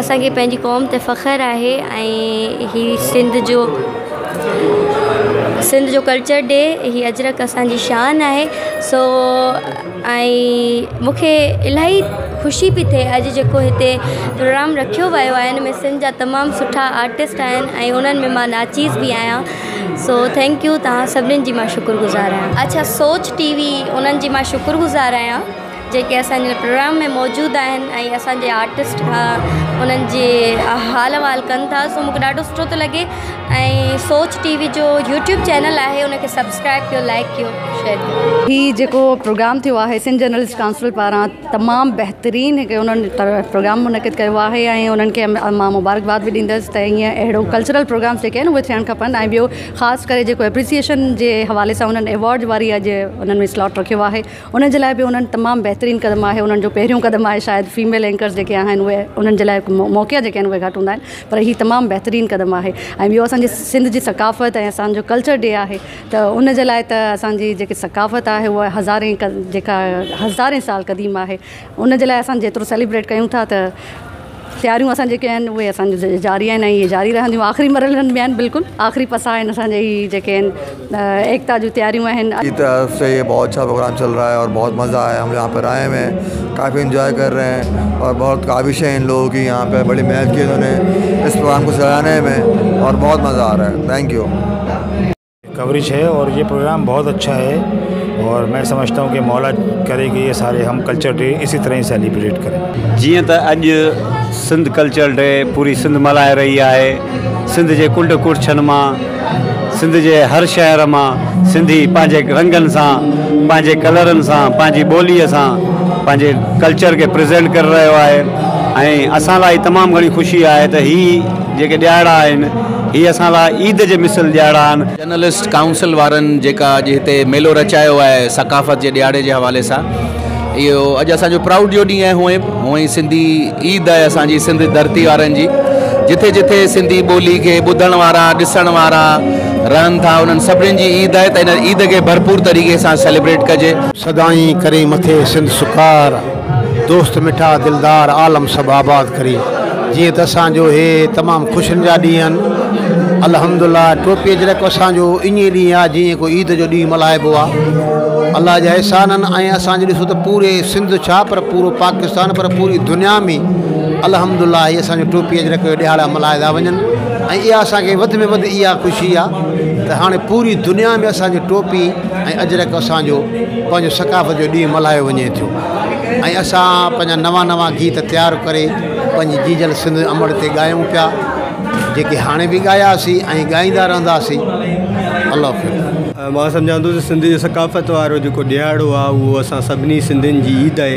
اسان کي پنهنجي قوم تي فخر آهي ۽ هي سنڌ جو سنڌ جو ڪلچر ڊي هي اجرڪ اسانجي شان آهي سو ۽ مونکي الاهي خوشي پي ٿئي اڄ جيڪو هتي پروگرام رکيو ويو آهي ان ۾ سنڌ جا تمام سٺا آرٽسٽ آهن ۽ انهن ۾ مان ناچيس بي آهيان سو ٿينڪيو توهان سڀني جي مان شڪر گذار آهيان اڇا سوچ ٽي وي انهن جي مان شڪر گذار آهيان جيڪي اسان جي پروگرام ۾ موجود آهن ۽ اسانجي آرٽسٽ کان انهن جي حال احوال ڪن ٿا سو مونکي ڏاڍو سٺو ٿو لڳي ۽ سوچ ٽي وي جو يوٽيوب چينل آهي ان کي سبسڪرائب ڪيو لائڪ ڪيو شيئر ڪيو هي جيڪو پروگرام ٿيو آهي سنڌ جرنلسٽ ڪائونسل پاران تمام بهترين هڪ انهن پروگرام منعقد ڪيو آهي ۽ انهن کي مان مبارڪباد به ڏيندس ته ائين اهڙو ڪلچرل پروگرام جيڪي آهن اهي ٿيڻ کپن ۽ ٻيو خاص ڪري جيڪو اپريسيئشن جي حوالي سان انهن ايوارڊ واري اڄ انهن سلاٽ رکيو آهي انهن جي لاء به انهن تمام بهترين قدم آهي انهن جو پهريون قدم آهي شايد فيميل اينڪرز جيڪي آهن اهي انهن جي لاء موقعا جيڪي آهن اهي گهٽ هوندا آهن پر هي تمام بهترين قدم آهي ۽ ٻيو اسانجي سنڌ جي ثقافت ۽ اسانجو ڪلچر ڊي آهي ته ان جي لاء ته اسانجي جيڪي ثقافت آهي اهي هزارين جيڪا هزارين سال قديم آهي ان جي لاء اسان جيترو سيليبريٽ ڪيون ٿا ته تياريون اسان جيڪي آهن اهي اسان جي جاري آهن ۽ اهي جاري رهنديون آخري مرحلن ۾ آهن بلڪل آخري پسا آهن اسان جي هي جيڪي آهن ايڪتا جون تياريون آهن. جي طرف سي هي بهت اڇا پروگرام چل رها هي اور بهت مزا آيا هم يها پر آئي هي ڪافي انجوائي ڪر رهي هي اور بهت قابش هي ان لوگو ڪي يها پي بڙي محنت ڪي انهون ني اس پروگرام ڪو سهراهني مي اور بهت مزا آ رها هي ٿينڪ يو. ڪوريج هي اور هي پروگرام بهت اڇا هي اور مين سمجهتا هون ڪي مولا ڪري ڪي هي ساري هم ڪلچر ڊي اسي طرح هي سيليبريٽ ڪري. جيئن ته اڄ سنڌ ڪلچر ڊي پوري سنڌ ملهائي رهي آهي سنڌ جي ڪنڊ ڪڙڇن مان سنڌ جي هر شهر مان سنڌي پنهنجي رنگن سان پنهنجي ڪلرن سان پنهنجي ٻولي سان پنهنجي ڪلچر کي پريزينٽ ڪري رهيو آهي ۽ اسان لاء تمام گهڻي خوشي آهي ته هي جيڪي ڏيهاڙا آهن هي اسان لاء عيد جي مثل ڏيهاڙا آهن. جرنلسٽ ڪائونسل وارن جيڪا اڄ هتي ميلو رچايو آهي ثقافت جي ڏيهاڙي جي حوالي سان اهو اڄ اسان جو پرائوڊ جو ڏينهن آهي هونئن به هونئن سنڌي عيد آهي اسان جي سنڌ ڌرتي وارن جي جٿي جٿي سنڌي ٻولي کي ٻڌڻ وارا ڏسڻ وارا رهن ٿا انهن سڀني جي عيد آهي ته ان عيد کي ڀرپور طريقي سان سيليبريٽ ڪجي. سدائين ڪرين مٿي سنڌ سڪار. دوست مٺا دلدار عالم سڀ آباد ڪري جيئن ته اسان جو هي تمام خوشين جا ڏينهن آهن الحمد الله ٽوپي اجرڪ اسان جو ايئن ڏينهن آهي جيئن ڪو عيد جو ڏينهن ملهائبو آهي الله جا احسان آهن ۽ اسان جو ڏسو ته پوري سنڌ ڇا پر پورو پاڪستان پر پوري دنيا ۾ الحمد الله هي اسان جو ٽوپي اجرڪ جو ڏهاڙا ملهايا ٿا وڃن ۽ اها اسان کي وڌ ۾ وڌ اها خوشي آهي ته هاڻي پوري دنيا ۾ اسان جي ٽوپي ۽ اجرڪ اسان جو پنهنجو ثقافت جو ڏينهن ملهايو وڃي ٿيو ۽ اسان پنهنجا نوان نوان گيت تيار ڪري پنهنجي جيجل سنڌ امڙ تي ڳايون پيا جيڪي هاڻي به ڳاياسي ۽ ڳائيندا رهنداسي الله حفظ. مان سمجهان ٿو ته سنڌ جي ثقافت وارو جيڪو ڏهاڙو آهي اهو اسان سڀني سنڌين جي عيد آهي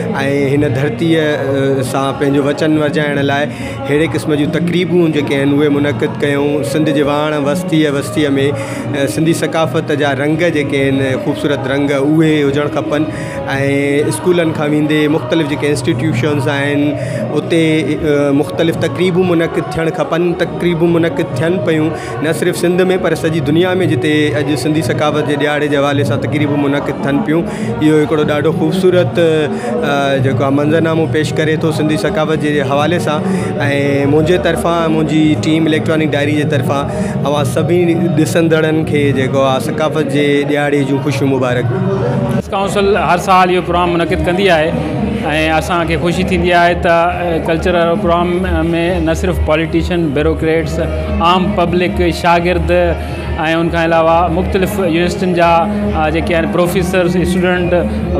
۽ هن ڌرتيء سان پنهنجو وچن ورجائڻ لاء ههڙي قسم جون تقريبون جيڪي آهن اهي منعقد ڪيائون. سنڌ جي واڻ وستيء وستيء ۾ سنڌي ثقافت جا رنگ جيڪي آهن خوبصورت رنگ اهي هجڻ کپن ۽ اسڪولن کان ويندي مختلف جيڪي انسٽيٽيوشنز آهن اتي مختلف تقريبون منعقد ٿيڻ کپن تقريبون منعقد ٿين پيون نه صرف سنڌ ۾ پر سڄي دنيا ۾ جتي اڄ سنڌي ثقافت جي ڏهاڙي جي حوالي سان تقريبون منعقد ٿين پيون اهو هڪڙو ڏاڍو خوبصورت جيڪو آ منظر نامو پيش ڪري ٿو سنڌي ثقافت جي حوالي سان ۽ منهنجي طرفان منهنجي ٽيم اليڪٽرانڪ ڊائري جي طرفان اوهان سڀي ڏسندڙن کي جيڪو آ ثقافت جي ڏهاڙي جون خوشيون مبارڪ پريس ڪائونسل هر سال اهو پروگرام منعقد ڪندي آهي ۽ اسان کي خوشي ٿيندي آهي ته ڪلچرل پروگرام ۾ نه صرف پاليٽيشن بيروڪريٽس عام پبلڪ، شاگرد ۽ ان کان علاوه مختلف يونيورسٽين جا جيڪي آهن پروفيسرس، اسٽوڊنٽ،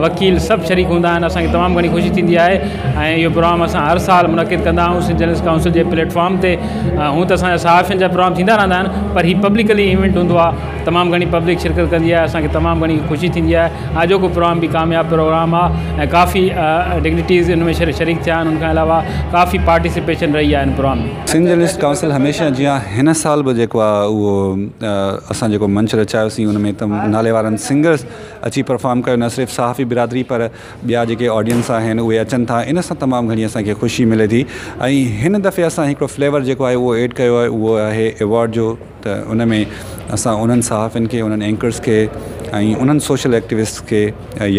وڪيل سڀ شريڪ هوندا آهن اسان کي تمام گهڻي خوشي ٿيندي آهي ۽ اهو پروگرام اسان هر سال منعقد ڪندا آهيون سنڌ جرنلسٽ ڪائونسل جي پليٽ فارم تي هونئن ته اسان جا صحافين جا پروگرام ٿيندا رهندا آهن پر هي پبلڪلي ايونٽ هوندو آهي تمام گهڻي پبلڪ شرڪت ڪندي آهي اسان کي تمام گهڻي خوشي ٿيندي آهي آجوڪو پروگرام به ڪامياب پروگرام آهي ۽ ڪافي ڊگنيٽيز ان ۾ شريڪ ٿيا آهن ان کان علاوه ڪافي پارٽيسپيشن رهي آهي ان پروگرام سنڌ جرنلسٽ ڪائونسل هميشه جيان هن سال به جيڪو آ اهو اسان جيڪو منچ رچايوسين ان ۾ تم نالي وارن سنگرز اچي پرفارم ڪيو نه صرف صحافي برادري پر ٻيا جيڪي آڊينس آهن اهي اچن ٿا ان سان تمام گهڻي اسان کي خوشي ملي ٿي ۽ هن دفعي اسان هڪڙو فليور جيڪو آهي اهو ايڊ ڪيو آهي اهو آهي ايوارڊ جو ته ان ۾ اسان انهن صحافين کي انهن اينڪرز کي ۽ انهن سوشل ايڪٽيوسٽس کي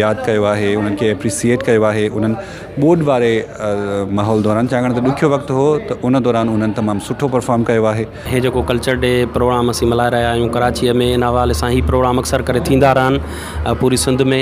ياد ڪيو آهي انهن کي اپريسيئيٽ ڪيو آهي انهن ٻوڏ واري ماحول دوران ڇاڪاڻ ته ڏکيو وقت هو ته ان دوران انهن تمام سٺو پرفارم ڪيو آهي. هي جيڪو ڪلچر ڊي پروگرام اسين ملهائي رهيا آهيون ڪراچيء ۾ ان حوالي سان هي پروگرام اڪثر ڪري ٿيندا رهن پوري سنڌ ۾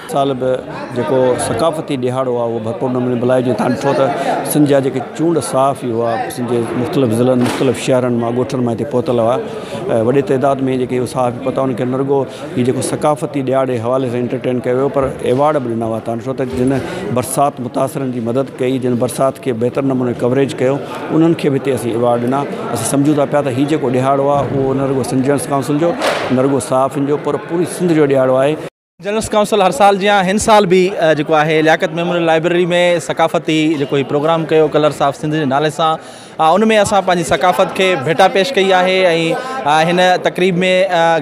سال به جيڪو ثقافتي ڏهاڙو آهي اهو ڀرپور نموني ملهائي جي تان ڏٺو ته سنڌ جا جيڪي چونڊ صحافي هئا سنڌ جي مختلف ضلعن مختلف شهرن مان ڳوٺن مان هتي پهتل هئا ۽ وڏي تعداد ۾ جيڪي صحافي پهتا ان کي نه رڳو هي جيڪو ثقافتي ڏهاڙي حوالي سان انٽرٽين ڪيو ويو پر ايوارڊ به ڏنا ويا تان ڏٺو ته جن برسات متاثرن جي مدد ڪئي جن برسات کي بهتر نموني ڪوريج ڪيو انهن کي به هتي اسين ايوارڊ ڏنا اسين سمجهون ٿا پيا ته هي جيڪو ڏهاڙو آهي اهو نه رڳو سنڌ جرنلسٽ ڪائونسل جو نه رڳو صحافين جو پر پوري سنڌ جو ڏهاڙو آهي جنرلس ڪائونسل هر سال جيان هن سال به جيڪو آهي لياقت ميموريل لائبرري ۾ ثقافتي جيڪو هي پروگرام ڪيو ڪلرس آف سنڌ جي نالي سان ان ۾ اسان پنهنجي ثقافت کي ڀيٽا پيش ڪئي آهي ۽ هن تقريب ۾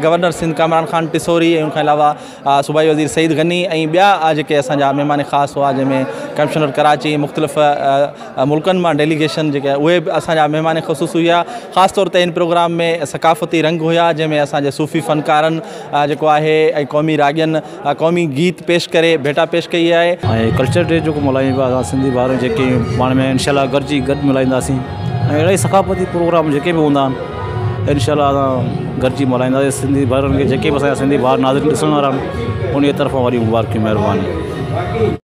گورنر سنڌ ڪامران خان ٽسوري ان کان علاوه صوبائي وزير سعيد غني ۽ ٻيا جيڪي اسانجا مهمان خاص هئا جنهن ۾ ڪمشنر ڪراچي مختلف ملڪن مان ڊيليگيشن جيڪي اهي به اسانجا مهمان خصوص هيا خاص طور تي ان پروگرام ۾ ثقافتي رنگ هيا جنهن ۾ اسانجي صوفي فنڪارن جيڪو آهي ۽ قومي راڳين قومي گيت پيش ڪري ڀيٽا پيش ڪئي آهي. ۽ ڪلچر ڊي جيڪو ملهايون پيا اسان سنڌي ڀائر جيڪي پاڻ ۾ انشاء الله گڏجي گڏ ملهائينداسين ۽ اهڙا ئي ثقافتي پروگرام جيڪي به هوندا آهن انشاء الله اسان گڏجي ملهائينداسين سنڌي ڀائرن کي جيڪي به اسان سنڌي ڀائر ناظرين ڏسڻ وارا آهن انهي طرفان وڏي مبارڪي مهرباني